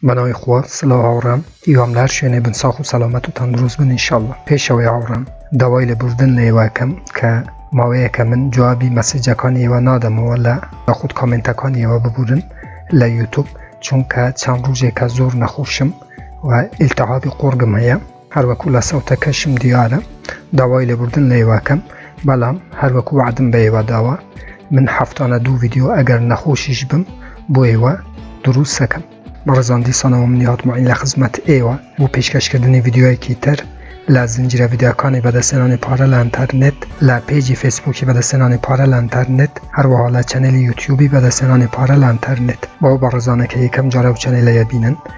بەناوی خوا سلاو هاوڕێم هیوام لەهەر شوێنێ بن ساخ و سەلامەت و تەندروست بن انشاللە پێشەوەی هاوڕێم داوای لە بوردن لە ئێوەکەم کە ماوەیەکە من جوابی مەسیجەکانی ئێوە نادەمەوە لە یاخود کامنتەکانی ئێوە ببورن لە یوتوب چونکە چەند ڕوژێکە زۆر نەخۆشم و ئیلتەحابی قۆڕگم هەیە هەروەکو لە سەوتەکەشم دیارە داوای لێبوردن لە ئێوە ئەکەم بەڵام هەروەکو وەعدم بە ئێوە داوە من هەفتانە دوو ڤیدیۆ ئەگەر نەخۆشیش بم بۆ ئێوە دروست ئەکەم بەڕێزان دیسانەوە منی هاتمەین لە خزمەت ئێوە بۆ پێشکەشکردنی ڤیدیۆیەکی تر لە زنجیرە ڤیدیۆکانی بەدەستێنانی پارە لە ئەنتەرنێت لە پێجی فەیسبووکی بەدەستێنانی پارە لە ئەنتەرنێت هەروەها لە چەنێلی یوتیوبی بەدەستێنانی پارە لە ئەنتەرنێت بەو بەڕێزانە کە یەکەم جارە و چەنێلەیە بینن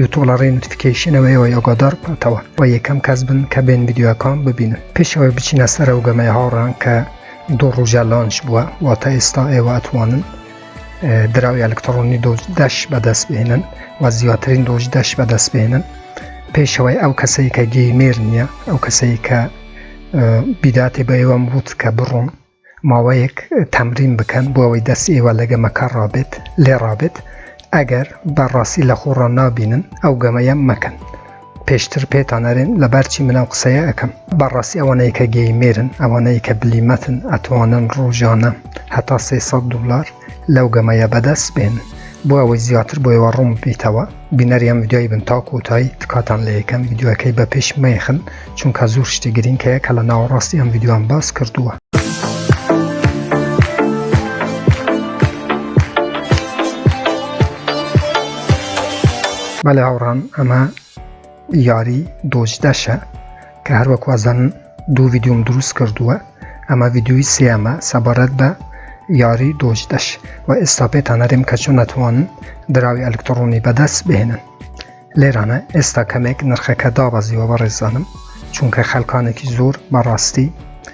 یوتوب لە ڕێی نوتفیکەیشنەوە ئێوە یۆگۆدار بکاتەوە و یەکەم کەس بن کە بێن ڤیددیوەکان ببینن پێشەوەی بچینە سەر ئەو گەمەی هاوڕان کە دوو ڕوژە لانچ بووە واتە ئێستا ئێوە ئەتوانن دراوی ئەلکترۆنی دۆژ دەش بەدەست بێنن و زیاترین دۆژ دەش بەدەست بێنن پێشەوەی ئەو کەسەی کە گەیمێر نییە ئەو کەسەی کە بیداتێ بە ئێوەم وت کە بڕۆن ماوەیەک تەمرین بکەن بۆ ئەوەی دەست ئێوە لە گەمەکە ڕابێت لێ ڕابێت ئەگەر بە ڕاستی لە خۆ ڕا نابینن ئەو گەمەیە مەکەن پێشتر پێتان ئەرێن لەبەر چی من ئەو قسەیە ئەکەم بە ڕاستی ئەوانەیە کە گەیمێرن ئەوانەیە کە بلیمەتن ئەتوانن ڕۆژانە هەتا سێ سەد دولار لەو گەمەیە بەدەست بێنن بۆ ئەوەی زیاتر بۆ ئێوە ڕوون بیتەوە بینەری ئەم ڤیدیۆی بن تا کۆتایی تکاتان لە یەکەم ڤیدیۆەکەی بە پێش مەیخن چونکە زۆر شتی گرنگ هەیە کە لە ناوەڕاستی ئەم ڤیدیۆیان باس کردووە. بەڵێ هاوڕان ئەمە یاری دۆج داشە کە هەروەک وازانن دوو ڤیددیوم دروست کردووە ئەمە ڤیددیوی سێمە سەبارەت بە یاری دۆج دەش و ئێستا پێتان نەرێم کە چۆن ناتوانن دراوی ئەلکتڕۆنی بەدەست بهێنن لێرانە ئێستا کەمێک نرخەکە دابەزیوە بە ڕێزانم چونکە خەلکانێکی زۆر بەڕاستی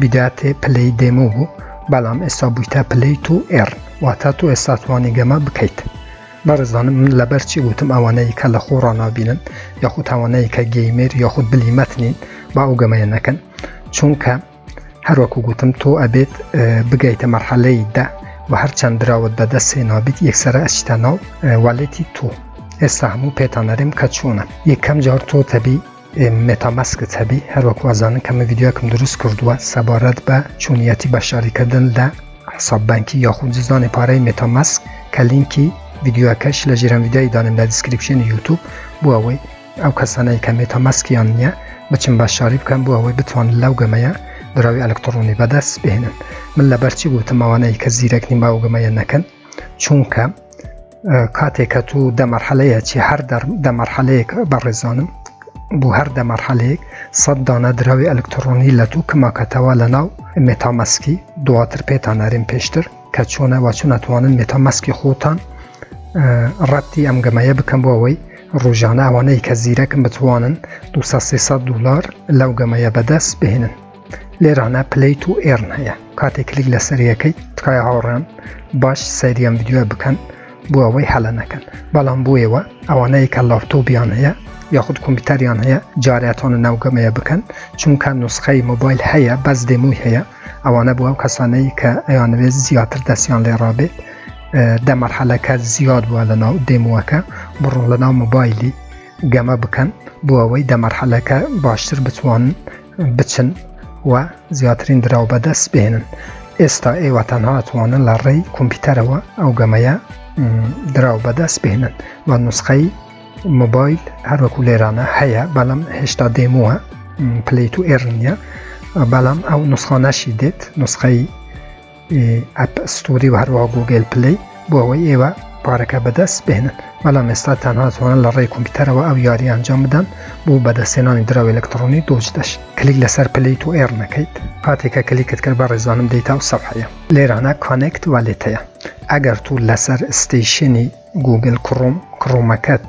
بداتێ پلەی دێمۆ بوو بەڵام ئێستا بوویتە پلەی تو ئێڕ واتا تۆ ئێستا توانی گەمە بکەیت بەڕزانم من لەبەر چی گوتم ئەوانەی کە لە خۆ ڕنابینن یاخود تاوانەیە کە گەیمێر یاخود بلی مەتنین با ئەو گەمەیە نەکەن چونکە هەروەکو گوتم تۆ ئەبێت بگەیتە مەرحەلەی دە و هەر چەند دراوت بەدەست سێنابیت یەکسرە ئەچتە ناو والێتی تۆ ئێستا هەموو پێتانەرێم کە چوونە یەکەم جار تۆ تەبی مێتا ماسکت هەبی هەروەکو ئەزانن کە من ڤیدیۆکم دروست کردووە سەبارەت بە چۆنیەتی بەشداریکردن لە حساب بانکی یاخود جزدانی پارەی مێتا ماسک کە لینکی ڤیدیۆکەش لە ژێرم ڤیدیۆی دانم لە دیسکریپشنی یوتوب بۆ ئەوەی ئەو کەسانەی کە مێتا ماسکیان نییە بچم بەشداری بکەم بۆ ئەوەی بتوان لەو گەمەیە دراوی ئەلکترۆنی بەدەست بهێنن من لەبەرچی گوتم ئەوانەی کە زیرەک نیم باوگەمەیە نەکەن چونکە کاتێک کە تو دەمەرحەلەیە چی هەر دەمەرحەلەیەک بەڕێزانم بۆ هەر دەمەرحەلەیەک سەد دانە دراوی ئەلکترۆنی لە دوو کماکەتەوە لە ناو مێتامەسکی دواتر پێتان نەریم پێشتر کە چۆنە وا چون ناتوانن مێتامەسکی خۆتان ڕەتی ئەم گەمەیە بکەم بۆ ئەوەی ڕۆژانە ئەوانەی کە زیرەکم بتوانن 200 دلار لەو گەمەیە بەدەست بهێنن لێرانە پلی تو ئێرن هەیە کاتێک کلیک لە سەریەکەی تکای هاوڕێن باش سەریەم یددیوە بکەن بۆ ئەوەی هەلە نەکەن بەڵام بۆیەوە ئەوانەیە کە لاپتۆبیان هەیە یاخود کۆمپیوتەریان هەیە جاراتۆنە ناوگەمەیە بکەن چونکە نوسخەی مۆبایل هەیە بەس دێمووی هەیە ئەوانە بۆ ئەو کەسانەی کە ئەیانوێت زیاتر دەستیان لێ ڕابێت دەمەرحەلەکە زیاد بووە لە ناو دێمووەکە بڕۆن لە ناو مۆبایلی گەمە بکەن بۆ ئەوەی دەمەرحەلەکە باشتر بتوانن بچن و زیاترین دراو بەدەست بێنن ئێستا ئێوە تەنها توانن لە ڕێی کۆمپیوتەرەوە ئەو گەمەیە دراو بەدەست بێنن و نوسخەی مۆبایل هەروەکو لێرانە هەیە بەڵام هێشتا دێمووە پلیت و ئێرنیە بەڵام ئەو نوسخانەشی دێت نسخەی ئەپ ستۆری و هەروەها گووگێل پلەی بۆ ئەوەی ئێوە پارەکە بەدەست بهێنن بەڵام ئێستا تەنها توانن لە ڕێی کۆمپیوتەرەوە ئەو یاری ئەنجام بدەن بۆ بەدەستێنانی دراوی ئەلکترۆنی دۆج دەش کلیک لەسەر پلی تو ئێڕ نەکەیت کاتێکە کلیکت کرد بە ڕێزانم دەیتا و سەفحەیە لێرانە کانێکت والێتەیە ئەگەر تو لەسەر ستەیشنی گووگل کڕۆم کڕۆمەکەت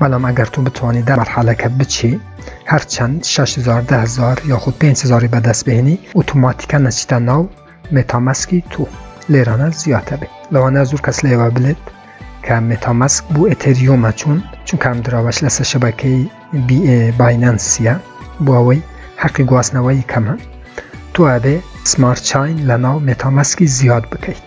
بەڵام ئەگەر تو بتوانی دە مەرحەلەکە بچی هەرچەند 6هزار دههزار یاخود 5هزاری بەدەست بهێنی ئوتوماتیکە نەچیتە ناو مێتامەسکی تو لێرانە زیاتە بێت لەوانە زۆر کەس لێوە بلێت کە مێتامەسک بۆ ئەتەریۆمە چوون چونکەم دراوەش لەسەر شەبەکەی باینەنسیە بۆ ئەوەی حەقی گواستنەوەی کەمە تو ئەبێ سمارت چین لە ناو مێتامەسکی زیاد بکەیت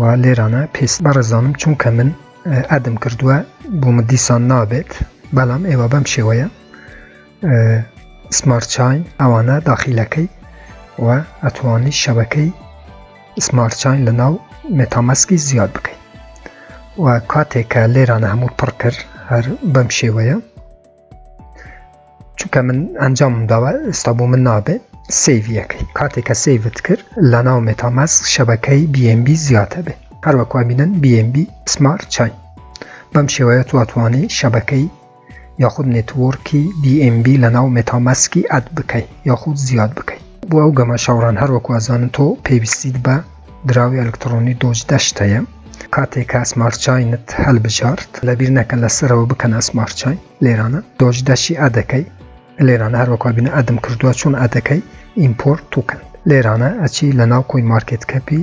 وا لێرانە پێست بەڕێزانم چونکە من ئەدم کردووە بۆ من دیسان نابێت بەڵام ئێوە بەم شێوەیە سمارت چاین ئەوانە داخیلەکەی و ئەتوانی شەبەکەی سمارت چاین لە ناو مێتامەسکی زیاد بکەیت و کاتێکە لێرانە هەموو پڕ کرد هەر بەم شێوەیە چونکە من ئەنجام داوە ئستا بۆ من نابێ سیڤەکەی کاتێک کە سیڤت کرد لە ناو مێتاماس شەبەکەی BMB زیاتە بێ هەروەکو بینن BMB سمارت چای بەم شێوەیە تواتوانانی شەبەکەی یاخود نێتوەرکی BMB لە ناو مێتاماسکی ئەد بکەیت یاخود زیاد بکەیت بۆ ئەو گەمە شەوڕان هەروەکو ئەزانن تۆ پێویستیت بە دراوی ئەلکترۆنی دۆج دەشت هەیە کاتێک کە سمارچینت هەلبژارد لەبیر نەکە لەسەرەوە بکەن ئەسمارچین لێرانە دۆج دەشی ئەدەکەی لێرانە هەروەکو بینە ئەدم کردووە چۆن ئەدەکەی ئیمپۆرت توکەن لێرانە ئەچی لە ناو کۆی مارکت کەپی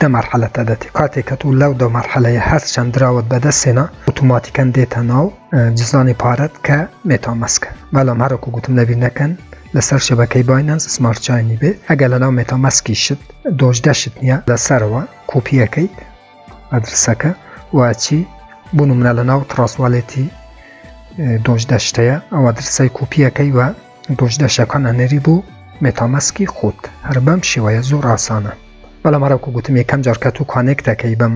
دە مەرحەلە تە دەتی کاتێ کە تو لەو دە مەرحەلە یە هەر چەند دراوت بە دە سێنا ئوتوماتیکەن دێتە ناو جزانی پارەت کە مێتا مەسکە بەلام هەرە کو گوتم لەبیر نەکەن لەسەر شەبەکەی باینەنس سمارت چاینی بێ ئەگە لە ناو مێتا مەسکی شت دۆش دەشت نییە لەسەرەوە کوپیەکەی ئەدرسەکە واچی بوونم منە لە ناو تڕاستوالێتی دۆش دەشتەیە ئەوە درسای کوپیەکەی وە دوژ دەشەکان ئەنێری بۆ مێتامەسکی خۆت هەر بەم شێوەیە زۆر ئاسانە بەڵام هەرەکو گوتم یەکەم جار کە تو کانێک دەکەی بەم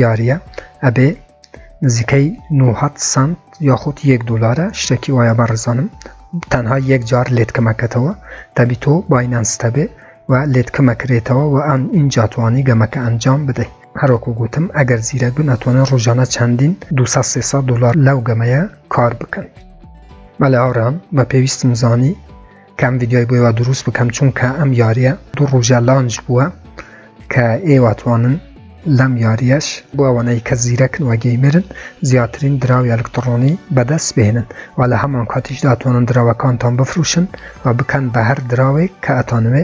یاریە ئەبێ نزیکەی 900 سنت یاخود یەک دلارە شتێکی وایە بە ڕزانم تەنها یەک جار لێت کەمەکەتەوە دەبی تۆ باینەنستە بێ و لێت کەمەکرێتەوە و ئەم ئینجاتوانی گەمەکە ئەنجام بدەیت هەروەکو گوتم ئەگەر زیرەک بن ئەتوانن ڕۆژانە چەندین 200 300 دلار لەو گەمەیە کار بکەن مەلا ئارام بە پێویستم زانی کەم ڤیددیوی بۆیوە دروست بکەم چونکە ئەم یاریە دوو ڕژە لانج بووە کە ئێواتوانن لەم یاریەش بۆ ئەوانەی کە زیرەکن وەگەی مرن زیاترین دراوی ئەلکتڕۆنی بەدەست بێنن و لە هەمان کاتیش داتوانن دراوەکانتان بفروشن و بکەن بە هەر دراوێک کە ئەتانوێ